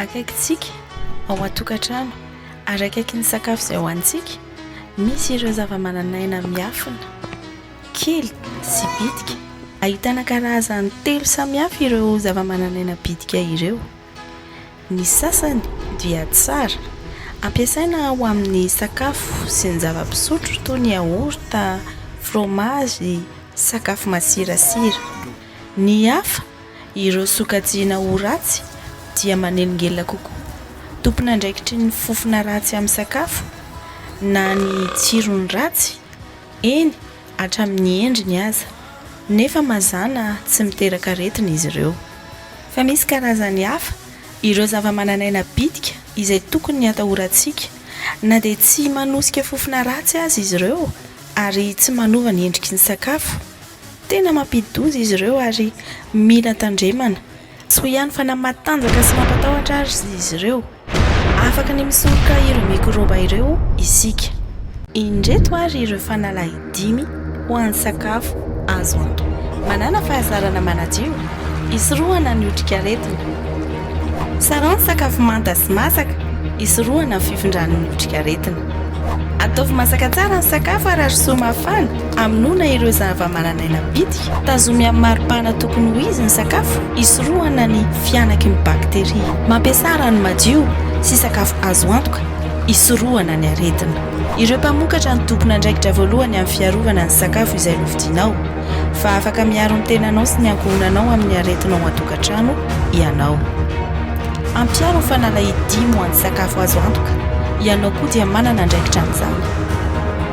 Akaikintsika, ao an-tokantrano, ary akaiky ny sakafo izay hohanintsika, misy ireo zavamananaina miafina, kely sy bitika. Ahitana karazany telo samihafa ireo zavamananaina bitika ireo. Ny sasany dia tsara, ampiasaina ho amin'ny sakafo sy ny zava-pisotro toy ny yaourt, fromazy, sakafo masirasira. Ny hafa. Ireo sokajiana ho ratsy dia manelingelina kokoa, tompon'andraikitry ny fofona ratsy amin'ny sakafo na ny tsirony ratsy, eny hatramin'ny endriny aza, nefa mazàna tsy miteraka aretina izy ireo. Fa misy karazany hafa, ireo zavamananaina bitika izay tokony hatahorantsika, na dia tsy manosika fofona ratsy aza izy ireo ary tsy manova ny endriky ny sakafo. Tena mampidi-doza izy ireo ary mila tandremana. Tsy ho ihany fa na matanjaka sy mampatahotra aza izy ireo, afaka ny misoroka ireo mikrôba ireo isika. Indreto ary ireo fanalahy dimy ho an'ny sakafo azo antoka. Manàna fahazarana manadio, hisorohana ny otrikaretina. Sarao ny sakafo manta sy masaka, hisorohana ny fifindran'ny otrikaretina. Ataovy masaka tsara ny sakafo ary arosoy mafana. Amonoana ireo zava-manan'aina bitika. Tazomy amin'ny mari-pana tokony ho izy ny sakafo hisorohana ny fihanaky ny bakteria. Mampiasà rano madio sy sakafo azo antoka hisorohana ny aretina. Ireo mpamokatra no tompon'andraikitra voalohany amin'ny fiarovana ny sakafo izay novidianao, fa afaka miaro ny tenanao sy ny ankohonanao amin'ny aretina ao an-tokantrano ianao. Ampiaro ny fanalahidim ho an'ny sakafo azo antoka, ianao koa dia manana andraikitra amin'izany.